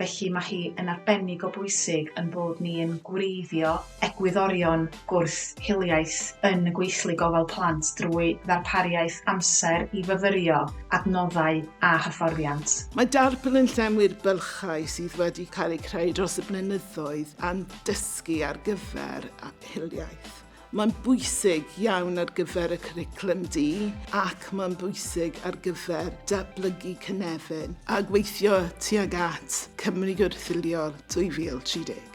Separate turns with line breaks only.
Felly mae hi yn arbennig o bwysig ein bod ni yn gwreiddio egwyddorion gwrth hiliaeth yn y gweithlu gofal plant drwy ddarpariaeth amser i fyfyrio adnoddau a hyfforddiant. Mae darpar yn
llenwi'r bylchau sydd wedi cael eu creu dros y blynyddoedd a'n dysgu ar gyfer hiliaeth. Mae'n bwysig iawn ar gyfer y Cwricwlwm Du ac mae'n bwysig ar gyfer datblygu cynefin a gweithio tuag at Cymru Gwrthwynoliol 2030.